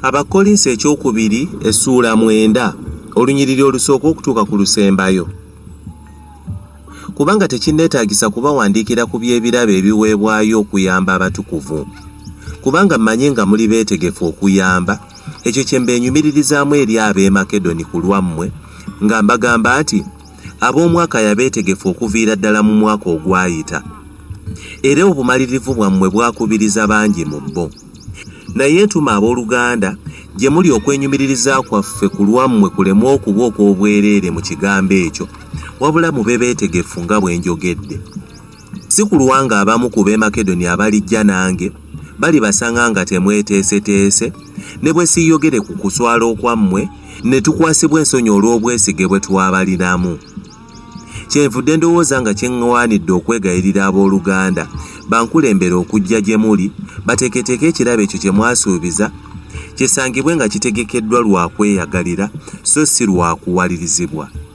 abakolinsi ekyokubiri essuula mwenda olunyiriri olusooka okutuuka ku lusembayo kubanga tekinneetaagisa kubawandiikira ku by'ebirabo ebiweebwayo okuyamba abatukuvu kubanga mmanyi nga muli beetegefu okuyamba ekyo kye mbenyumiririzaamu eri ab'e makedoni ku lwammwe nga mbagamba nti Ab'omwaka yabeetegefu okuviira ddala mu mwaka ogwayita, era obumalirivu bwammwe bwakubiriza bangi mu bo. Naye ntuma ab'oluganda gye muli okwenyumiririza kwaffe ku lwammwe kuleme okuba okw'obwereere mu kigambo ekyo, wabula mube beetegefu nga bwe njogedde. Si kulwa ng'abamu ku b'e Makedoni abalijja nange balibasanga nga temweteeseteese, ne bwe siiyogere ku kuswala okwammwe, ne tukwasibwa ensonyi olw'obwesige bwe twabalinamu. Kyenvudde ndowooza nga kye ŋŋwanidde okwegayirira ab'oluganda bankulembere okujja gye muli, bateeketeeke ekirabo ekyo kye mwasuubiza, kisangibwe nga kitegekeddwa lwa kweyagalira, so si lwa kuwalirizibwa.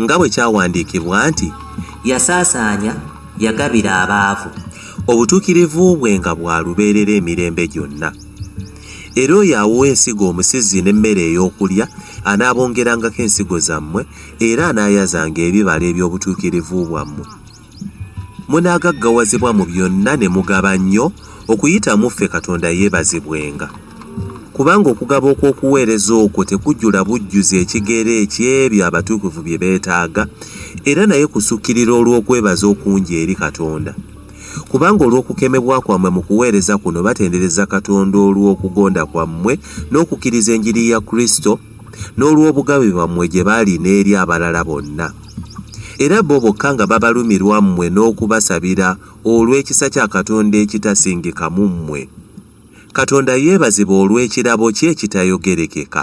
nga bwe kyawandiikibwa nti yasaasaanya yagabira abaavu obutuukirivu bwe nga bwa lubeerera emirembe gyonna era oyo awowa ensigo omusizi n'emmere ey'okulya anaabongerangako ensigo zammwe era anaayazanga ebibala eby'obutuukirivu bwammwe munaagaggawazibwa mu byonna ne mugaba nnyo okuyita mu ffe katonda yeebazibwenga kubanga okugaba okw'okuweereza okwo tekujjula bujjuzi ekigero eky'ebyo abatuukuvu bye beetaaga era naye kusukkirira olw'okwebaza okungi eri katonda kubanga olw'okukemebwa kwammwe mu kuweereza kuno batendereza katonda olw'okugonda kwammwe n'okukkiriza enjiri ya kristo n'olw'obugabe bwammwe gye bali n'eri abalala bonna, era bo bokka nga babalumirwa mmwe n'okubasabira olw'ekisa kya Katonda ekitasingika mu mmwe. Katonda yeebazibwe olw'ekirabo kye ekitayogerekeka.